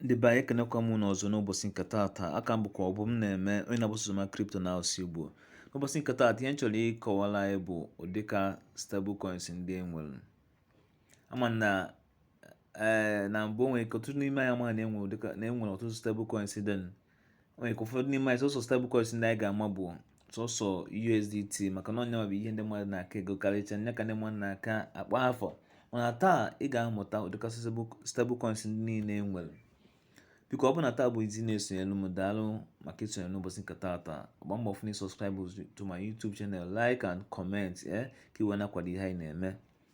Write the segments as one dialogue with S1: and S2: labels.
S1: ndị be anyị ekenekwa m unu ọzọ n'ụbọchị nke taata aka m bụkwa Ọbụmneme onye na-agbasa oziọma crypto na asụsụ Igbo n'ụbọchị nke taata ihe m chọrọ ịkọwara anyị bụ ụdị ka stable coins ndị e nwere ama m na ee eh, na mbụ o nwere ike ọtụtụ n'ime anyị amaghị na e nwere ọtụtụ stable coins dị o nwere ike ụfọdụ n'ime anyị sọsọ stable coins ndị anyị ga-ama bụ sọsọ USDT maka na ọ nya bụ ihe ndị mmadụ na-aka egokarịcha nya ka ndị mmadụ na-aka akpọ afa mana taa ị ga-amụta ụdịkasị stable coins ndị niile e nwere biko ọ bụ na taa bụ izizi ị na-esonyelu m daalụ maka isonye n'ụbọchị nke taata gba mbọ fụ na ị subscribe to my YouTube channel like and comment ee eh, ka ị wee na-akwado ihe anyị na-eme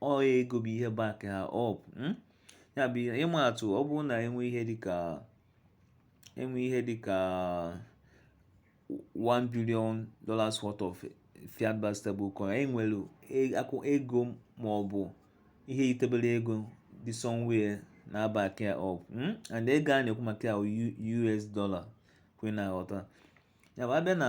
S1: ọ ego bụ ihe back ha up hmm? ya bụ ịma atụ ọ bụrụ na e nwee ihe dịka e nwee ihe dịka 1 billion dollars worth of fiat backed stablecoin e nwere ego ma ọ bụ ihe yitebere ego dị somewhere na-back ya up hmm? and ego a na-ekwu maka ya US dollar ka ị wee na-aghọta ya bụ a bịa na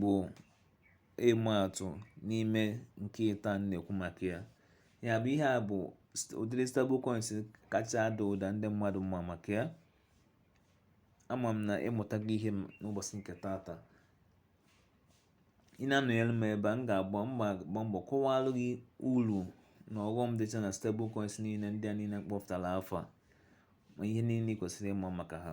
S1: bụ ịma atụ n'ime nke ịta a na-ekwu maka ya. Ya bụ ihe a bụ ụdịrị stable coins kacha ada ụda ndị mmadụ ma maka ya. Ama m na ị mụtago ihe n'ụbọchị nke taata. Ị na-anọnyere m ebe a, m ga-agba m ga-agba mbọ kọwaalụ gị uru na ọghọm dịcha na stable coins niile ndị a niile m kpọpụtara afa ma ihe niile ị kwesịrị ịma maka ha.